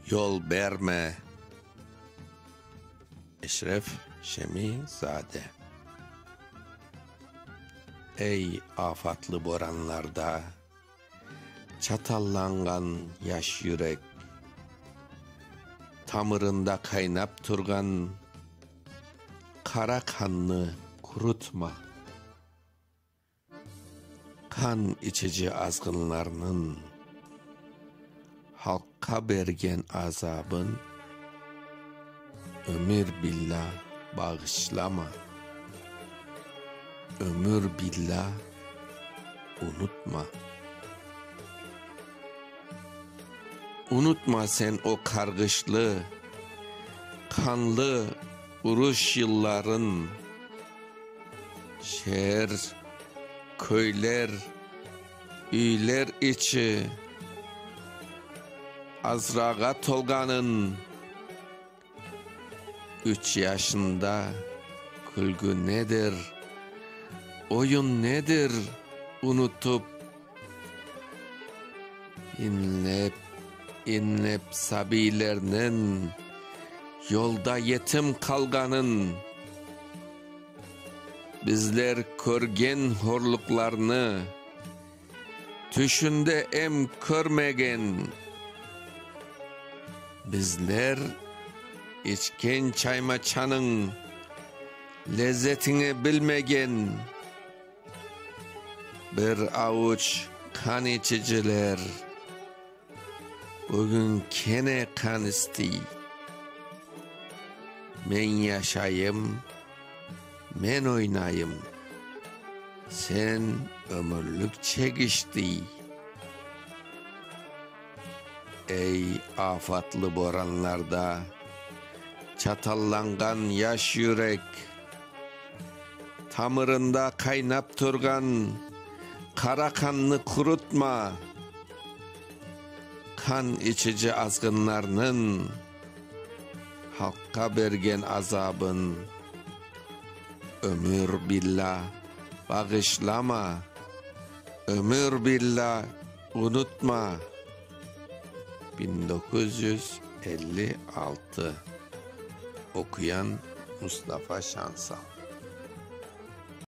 Yol berme, Eşref Şemizade. Ey, afatlı boranlarda çatallanğan yaş yürek, Tamırında qaynap turğan qara qannı qurutma. Qan içici azğınlarnıñ halqqa bergen azabın ömür billâ bağışlama, ömür billâ unutma. Unutma sen o qarğışlı, qanlı. Uruş yılların şeer, köyler, üyler içi azrağa tolğanın üç yaşında külgü nedir, oyun nedir unutıp. İñlep, iñlep sabiylerniñ yolda yetim qalğanın, bizler körgen horluqlarnı, tüşünde em körmegen, bizler içken çaymaçanıñ lezzetini bilmegen, Bir avuç qan içiciler bugün kene qan istiy. Men yaşayım, men oynayım, sen ömürlik çek iştiy. Ey, afatlı boranlarda çatallanğan yaş yürek! Tamırında qaynap turğan qara qannı qurutma, qan içici azğınlarnıñ halqqa bergen azabın ömür billâ bağışlama, ömür billâ unutma. Biñ doquz yüz elli altı oquyan Mustafa Şansal.